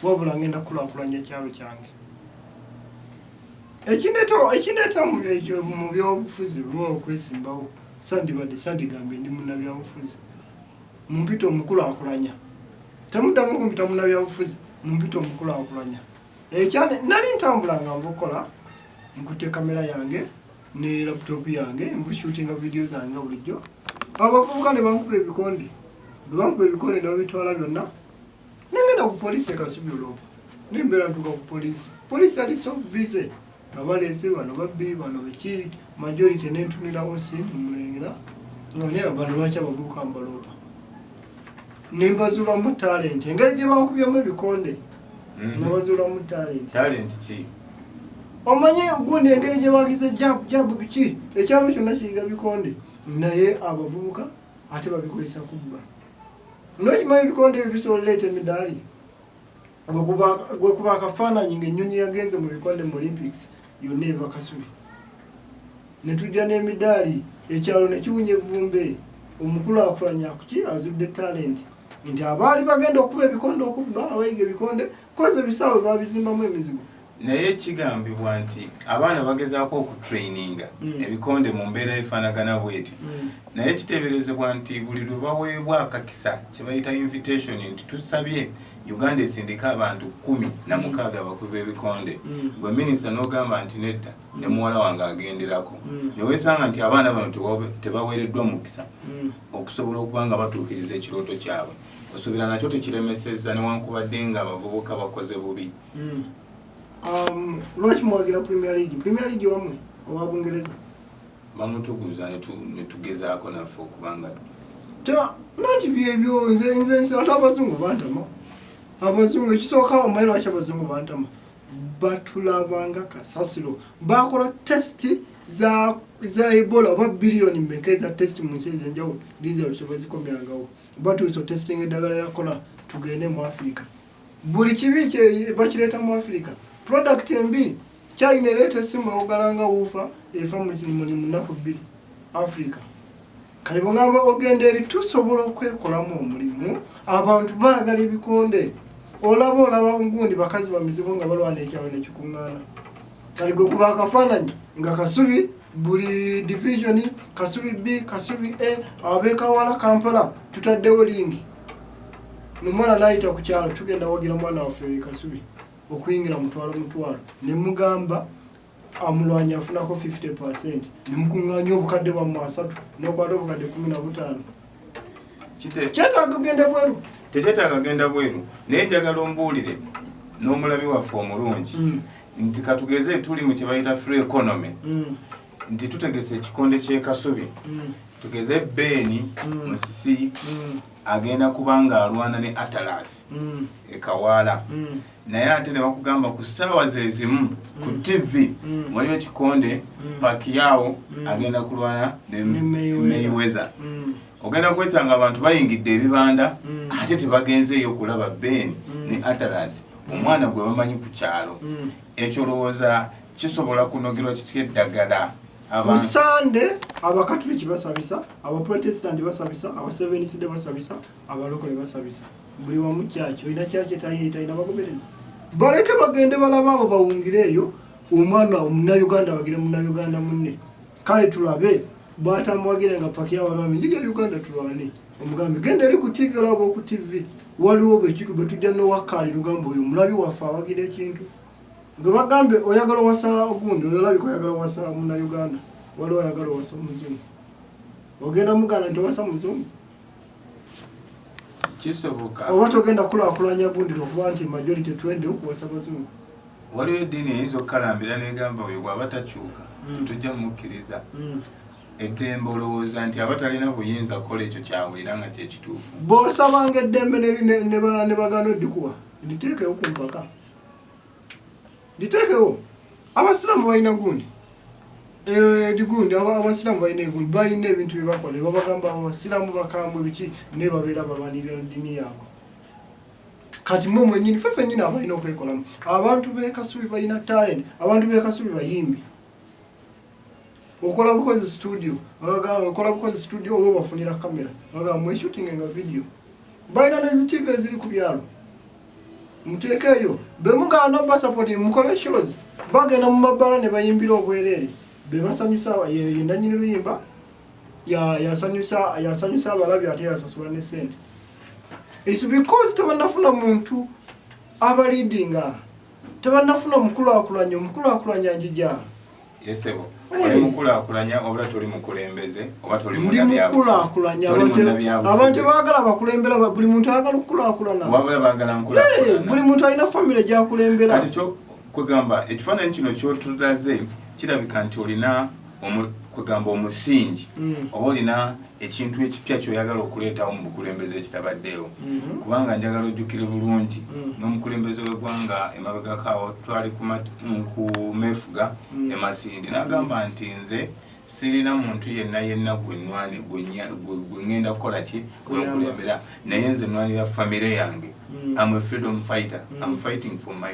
wabula ngenda kukulakulanya ekyalo kyange ekindeeta mu byobufuzi lwa okwesimbawo sandibadde sandigambye ndi munabyabufuzi mumpita omukulakulanya temuddamu kumpita munabyabufuzi mumpita omukulakulanya ekyane nali ntambula nga nva okukola nkutte kamera yange ne laptop yange nvushootinga vidiyo zange nga bulijjo abavubuka ne bankuba ebikonde bwe bankuba ebikonde ne babitwala byonna nengenda ku poliisi ekasubi olwopo nembeera ntuuka ku poliisi poliisi yali so busy nga baleese bano babbi bano biki majority nentunirawo si nemulengera nga naye abantu lwaki abavubuka mbaloopa nebazuulamu talenti engeri gye bankubyemu ebikonde mhm. nebazuulamu talenti omanye gundi engeri gye bagize jabu jabu biki ekyalo kyonna kiyiga bikonde naye abavubuka ate babikozesa kubba nokimanyi ebikonde ebyo bisobola leeta emidaali gwekuba akafaananyi ngaennyonyi yagenze mu bikonde mu olympics yonna eva kasubi netujja n'emidaali ekyalo nekiwunya evumbe omukulakulanya kuki azudde talenti nti abaali bagenda okuba ebikonde okubba abayiga ebikonde koze ebisaawe babizimbamu emizigo naye kigambibwa nti abaana bagezaako okutraininga mm. ebikonde mu mbeera efaanagana bweti mm. naye kiteeberezebwa nti buli lwe baweebwa akakisa kye bayita invitation nti tusabye uganda esindika abantu kumi na mm. mukaaga bakulu b'ebikonde gwe minisita n'ogamba nti nedda ne muwala wange agenderako ne weesanga nti abaana bano tebaweereddwa mukisa okusobola okuba nga batuukiriza ekirooto kyabwe osuubira nakyo tekiremesezza newankubadde nga abavubuka bakoze bubi Mm. Um, lwaki muwagira premier league premier league wamwe owa bungereza bamutuguza netugezaako naffe okubanga nanti byebyo nze nze nse ate abazungu bantama abazungu ekisooka omwe lwaki abazungu bantama batulabanga kasasiro bakola test za za ebola oba biliyoni mmeka eza test mu nsi ezenjawulo dizero kyebazikomyangawo batuusa otestinga eddagala yakola tugende mu afirika buli kibi kye bakireeta mu afirika product embi china ereeta esimu awogala nga wuufa efa muli munaku bbiri afirika kale bwogamba ogenda eri tusobola okwekolamu omulimu abantu baagala ebikonde olaba olaba ngundi bakazi bamizibu nga balwana ekyalo nekikuŋŋaana kale gwe kuba akafaananyi nga kasubi buli divisioni kasubi b kasubi a abekawala kampala tutaddewo lingi nomala nayita ku kyalo tugenda wagira mwana waffe wekasubi okuyingira mutwalo mutwalo ne mugamba amulwanya afunako 50 percent ne mukunganya obukadde bwa mwasatu nokwata obukadde kumi na butaano kyetaaga kugenda bweru tekyetaaga kugenda bweru naye njagala ombuulire n'omulabi waffe omulungi mm. nti katugeze tuli mu kyebayita free economy mm. nti tutegese ekikonde kyekasubi mm. tugeze beeni mm. musisi mm. agenda kuba nga alwana ne atalasi ekawaala naye ate nebakugamba ku saawa zezimu ku tv waliwo ekikonde pakiyawo agenda kulwana nemeyiweza ogenda kwesanga abantu bayingidde ebibanda ate tebagenzeeyo okulaba beeni ne atalasi omwana gwe bamanyi ku kyalo ekyo olowooza kisobola kunogerwa kitya eddagala ku sande abakatuliki basabisa abaprotestanti basabisa abaseveniside basabisa abalokole basabisa buli wamu kyaki olina kyaki etayitalina bagoberezi baleke bagende balaba abo bawungire eyo omwana omunauganda abagire munauganda munne kale tulabe bwatamuwagire nga paki abalwami njiga uganda tulwane omugambi genda eri ku tivi olaba oku tivi waliwo bwetujja nowakkali lugamba oyo omulabi waffe awagira ekintu nga bagambe oyagala owasa ogundi oyolabika oyagala owasa muna uganda waliwo oyagala owasa omuzungu ogenda muganda nti owasa muzungu kisoboka oba togenda kulakulanya gundi lwokuba nti majority twende okuwasa bazungu waliwo eddiini eyinza okukalambira negamba oyo bwaba takyuka hmm. tujja mumukkiriza hmm. eddembe olowooza nti aba talina buyinza kukola ekyo kyawulira nga kyekituufu bwosabanga eddembe nebagana oddikuwa nditeekewo ku mpaka nditeekewo abasiraamu balina gundi eh, digundi abasiraamu balina egundi balina ebintu byebakola ebabagamba abasiraamu bakambwe biki naye babeera balwanirira ddiini yaabwe kati mwe mwenyini fe fenyini abalina okwekolamu abantu bekasubi balina talent abantu bekasubi bayimbi okola bukozi studio abagamba okola bukozi studio oba obafunira kamera abagamba mweshutinge nga video balina nezi tv eziri ku byalo muteeka eyo bemugaana basapoti mukole shows bagenda mu mabbala ne bayimbira obwereere bebasanyusa yendanyini luyimba yasanyusa abalabi ate yasasula ne sente is because tebanafuna muntu abaliidinga tebannafuna omukulakulanya omukulakulanya njija yesebo oli mukulakulanya oba toli mukulembeze oba toli mukulakulanya abantu bagala bakulembera buli muntu ayagala okukulakulana wabula bagala nkulakulana buli muntu alina famire gyakulembera kati kyo kwegamba ekifaananyi kino kyotulaze kirabika nti olina kwegamba omusingi mm. oba olina ekintu ekipya kyoyagala okuleetawo mu bukulembeze ekitabaddeewo mm-hmm. kubanga njagala ojjukire bulungi mm. n'omukulembeze w'eggwanga emabegako awo twali kumefuga mm. emasindi n'agamba nti nze sirina muntu yenna yenna gwenwani gwengenda kukola ki gwenkulembera naye nze nwanira famire yange am a freedom fighter am fighting for my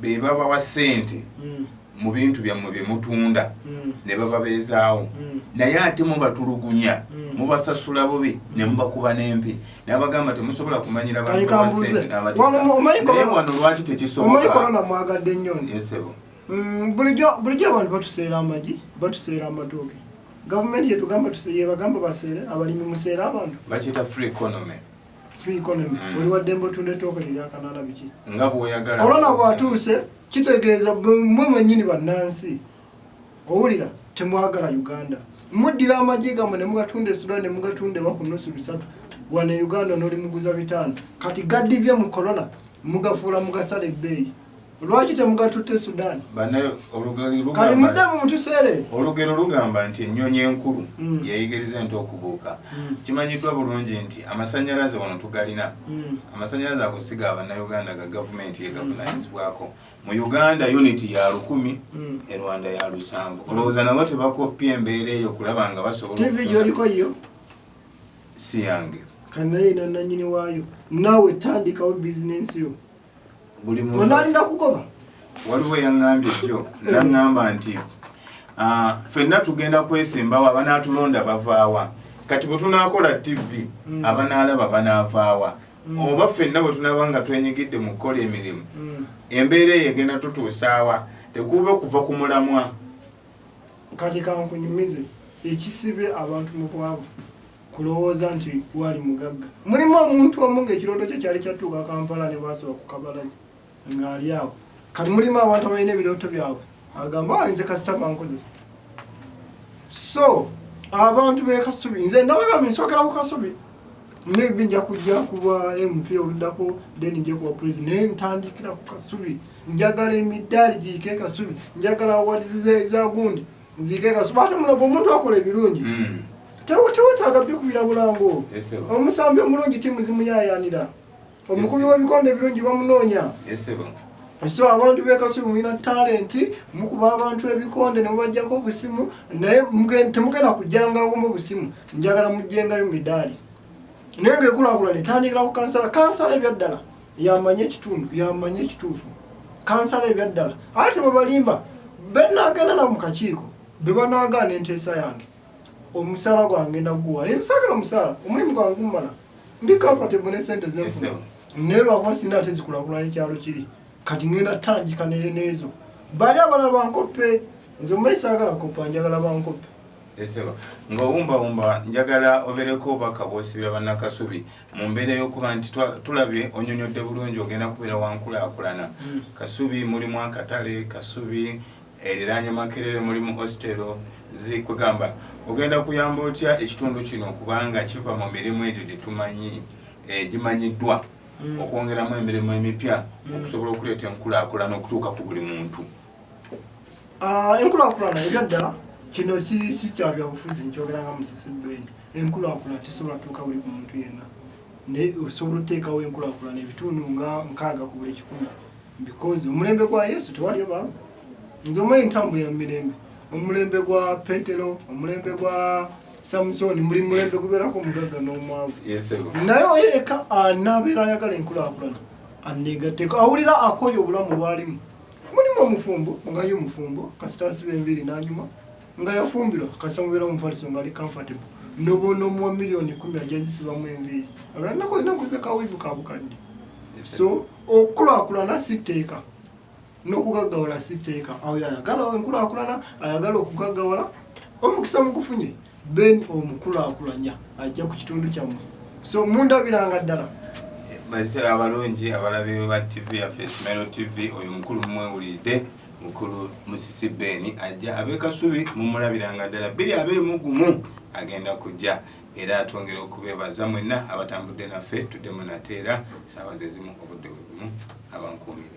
be babawa sente mm. mu bintu byammwe bye mutunda mm. ne bababeezaawo mm. naye ate mubatulugunya mm. mubasasula bubi ne mubakuba n'empi nabagamba temusobola kumanyira bantuwano lwaki tekisobokamwagadde nnyo nzesebo mm, bulijjo abantu batuseera amagi batuseera amatooke gavumenti yetugamba yebagamba baseere abalimi museere abantu bakiyita free economy korona bwatuuse kitegeeza mwe mwenyini bannansi owulira temwagala uganda muddira amagye gamwe nemugatunda esudan nemugatunda ewa ku nusu bisatu wano e uganda nolimuguza bitaano kati gadibye mu korona mugafuula mugasala ebbeeyi lwaki temugatute sudan kali muddemu mutusere olugero lugamba nti ennyonyi enkulu mm. yeyigiriza ente okubuuka mm. kimanyiddwa bulungi nti amasanyalaze wano tugalina mm. amasanyalaze ago siga abanauganda ga gavumenti yegavunanyizibwako mu uganda uniti ya lukumi e rwanda ya lusanvu olowooza nabo tebakoppya embeera eyo okulaba nga basobolaolikoyo si yange kanaye nananyini waayo nawe tandikawo bizinensi yo buli muntu onalinda kugoba waliwo yaŋŋambye jjo naŋŋamba nti ah, fenna tugenda kwesimbawo abanaatulonda bavaawa kati bwe tunaakola tivi mm. abanaalaba banaavaawa mm. oba fenna bwe tunaaba nga twenyigidde mu kukola emirimu mm. embeera eyo egenda tutuusaawa tekuube okuva ku mulamwa kati kankunyumize ekisibe abantu mu bwavu kulowooza nti waali mugagga mulimu omuntu omu ngaekirooto kye kyali kyatuuka kampala ne bwasaba ku kabalazi ng'ali awo kati mulimu abantu abalina ebirooto byabwe agamba walinze ah, kasita bankozesa so abantu bekasubi nze ndabagamba nsokera ku kasubi maybe nja kujja kuba mp oluddako then nja kuba president naye ntandikira ku kasubi njagala emidaali giike kasubi njagala awadizi zagundi nzigega sibate mulogo omuntu akola ebirungi mm. tewetaaga byokubira bulango omusambi omulungi timu zimuyayanira omukubi webikonde ebirungi bamunoonya so abantu bekasubi mulina talenti mukuba abantu ebikonde nemubajjako obusimu naye temugenda kujjangawomu obusimu njagala mujjengayo midaali naye ngaekulakulana etandikira ku kansala kansala ebyaddala yamanyi ekitundu yamanyi ekituufu kansala ebyaddala ate tebabalimba benagenda na mukakiiko bebanagaana enteesa yange omusala gwange naguwa ensagala omusala omulimu gwange gumumala ndi comfortable ne sente zenfuna naye lwakuba sina ate zikulakulana ekyalo kiri kati ngenda tandika nezo bali abalala bankoppe nze omumayi sagala koppa njagala bankoppe esebo ng'owumbawumba njagala obereko obubaka bwosibira bannakasubi mu mbeera y'okuba nti tulabye onyonyodde bulungi ogenda kubeera wankulakulana hmm. kasubi mulimu akatale kasubi eriranye makerere mulimu ostero zikugamba ogenda kuyamba otya ekitundu kino kubanga kiva mu mirimu egyo gyetumanyi eh, gimanyiddwa hmm. okwongeramu emirimu emipya hmm. okusobola okuleeta enkulakulana okutuuka ku buli muntu Ah, enkulakulana ebyaddala kino kikyabyabufuzi nkyogera nga musisi ben enkulakulana tesobola tuuka buli ku muntu yenna naye osobola oteekawo enkulakulana ebitundu nga nkaaga ku buli kikumi because omulembe gwa yesu tewaliyo ba nze omanyi ntambulira mu mirembe omulembe gwa petero omulembe gwa samusoni muli mulembe gubeerako omugagga n'omwavu naye oyeka anabeera ayagala enkulakulana anegateko awulira akoye obulamu bwalimu mulimu omufumbo nga ye omufumbo kasita asiba enviiri n'anyuma nga yafumbirwa kasita mubeera omufaliso nga ali comfortable noboona omuwa miliyoni kumi ajazisibamu enviiri abalanako olina kuza kawivu ka bukadde so okukulakulana si tteeka n'okugaggawala si tteeka awo yayagala enkulakulana ayagala okugaggawala omukisa mugufunye Ben omukulakulanya ajja ku kitundu kyammwe so mundabiranga ddala bazise abalungi abalabi ba tv yaffe smero tv oyo mukulu mumwewulidde mukulu musisi ben ajja abekasubi mumulabiranga ddala biri abiri mugumu agenda kujja era atwongera okubebaza mwenna abatambudde naffe tuddemu nateera saawa zezimu obudde bwebumu abankuumire